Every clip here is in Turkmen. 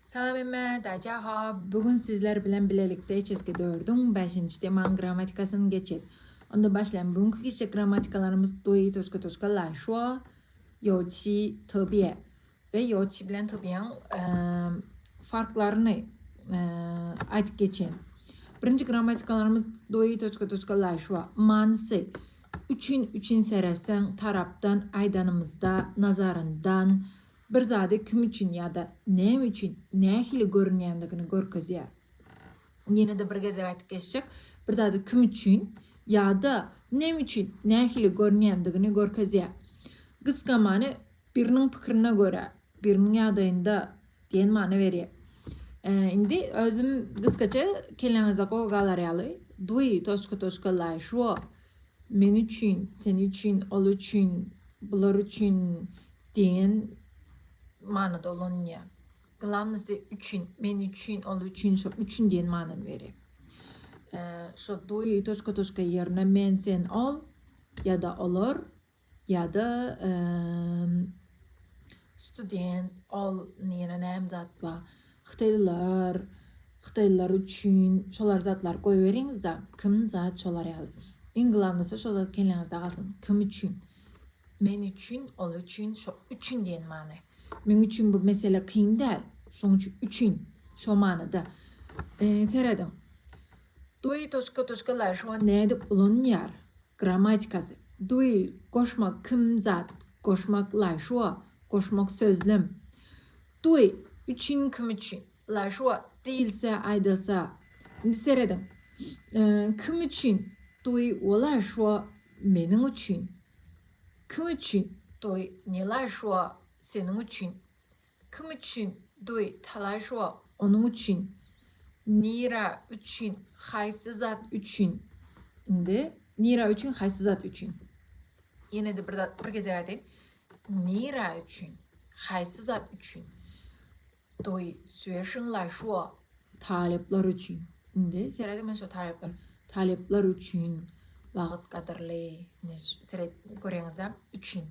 Salam emme, daja ha, bu gün sizler bilen bilelikde HSG 4-üň 5-nji temanyň grammatikasyny geçýäs. Onda başlaýan bu günki geçjek grammatikalarymyz dui toska toska lai shuo, yo chi tobie we yo chi bilen tobiýaň ehm, farklaryny ehm, aýdyp geçýän. Birinji grammatikalarymyz dui toska toska lai shuo. Manysy üçin üçin seretseň tarapdan aýdanymyzda nazaryndan Bir zady kim üçin ýa-da näme üçin nähili görünýändigini görkezýär. Ýene-de bir gezek aýdyp geçjek, bir zady kim üçin ýa-da näme üçin nähili görünýändigini görkezýär. Gysga many biriniň pikirine görä, biriniň ýagdaýynda diýen many berýär. Indi özüm gysgaça kelläňizde gowy galar ýaly, dwi toçka toçka laýşwo Men üçin, sen üçin, ol üçin, bular üçin diýen manyda ulanylýar. Glawnosy üçin, men üçin, ol üçin, şo üçin diýen manyny berýär. Şo dui toçka-toçka ýerine men, sen, ol ýa-da olar Ýa-da student ol ýene näme zat bar? Hytaýlylar, hytaýlylar üçin şolar zatlar goýberiňizde, kim zat şolar ýaly. Iň glavnysy şo zat kelläňizde galsyn. Kim üçin? Men üçin, ol üçin, şo üçin diýen many. Meň üçin bu mesele kyn däl. Şoň üçin üçin şo manyda. Serediň. Dwy toçka toçka laýşwa nädip ulanýar? Grammatikasy, Duý, goşmak, kim, zat, goşmak, laýşua, goşmak, sözlem. Duý, üçin, kim üçin, laýşua, diýilse, aýdylsa. Indi serediň. Kim üçin, Duý, wo laýşua, meniň üçin. Kim üçin, Duý, ne laýşua, seniň üçin. Kim üçin duy talaş wah onuň üçin nira üçin haýsy zat üçin indi nira üçin haýsy zat üçin ýenede bir zat bir gezek aýdaýyn nira üçin haýsy zat üçin duy söýşiň laş wah talyplar üçin indi serediň men şu talyplar talyplar üçin wagyt gadyrly indi seret göreňizde üçin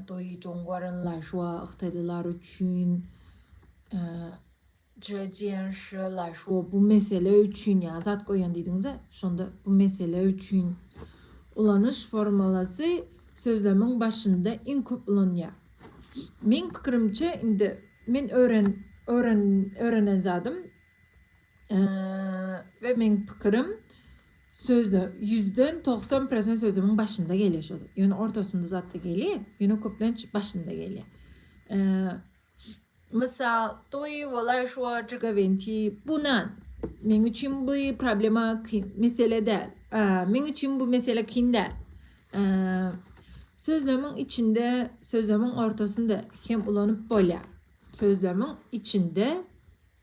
Doi Jongwarenler şua hytaýlylar üçin Zhejian Shiler şua bu mesele üçin ýa zat goýan diýdiňiz-ä, şonda bu mesele üçin ulanyş formulasy sözlemiň başynda iň köp ulanýar. Meň pikirimçe, indi men öwren öwren öwrenen zadym we meň pikirim sözde ýüzden togsan prosent sözlemiň başynda gelýär şo zat. Ýöne ortasynda zat da gelýär, ýöne köplenç başynda gelýär. Mysal, toý wala şo jigawenti bunan. Meň üçin bu problema kyn, mesele däl. Meň üçin bu mesele kyn däl. Sözlemiň içinde, sözlemiň ortasynda hem ulanyp bolýar. Sözlemiň içinde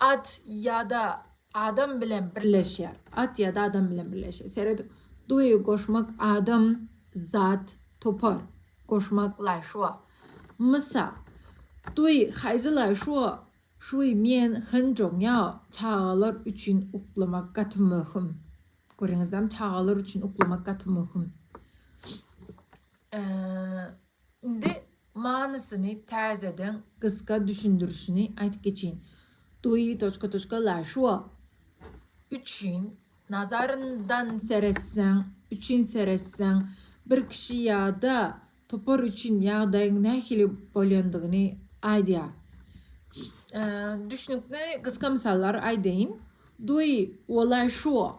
At ýa-da adam bilen birleşýär. At ýa-da adam bilen birleşýär. Serediň. Duýgy goşmak adam, zat, topar. Goşmak laý şuwa. Mysal. Duý haýzy laý şuwa. Şuý men hynjoň ýa çagalar üçin uklamak gaty möhüm. Görýäňizdem çagalar üçin uklamak gaty möhüm. Indi manysyny täzeden gysga düşündirişini aýtyp geçeýin. Dui toçka toçka la şua. Üçin nazaryndan seretseň, üçin seretseň, bir kişi ýa-da topar üçin ýagdaýyň nähili bolýandygyny aýdýar. Düşnükli gysga mysallar aýdaýyn. Dui wolaý şua.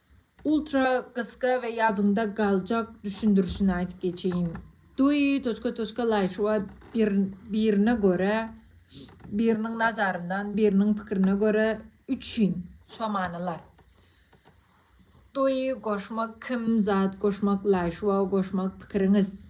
Ultra gysga we ýadyňda galjak düşündirişini aýdyp geçeýin. Dui toçka toçka laýşua bir birine görä biriniň nazaryndan biriniň pikirine görä üç in şo manylar. Dui goşmak kim zat goşmak laýşua goşmak pikiriňiz.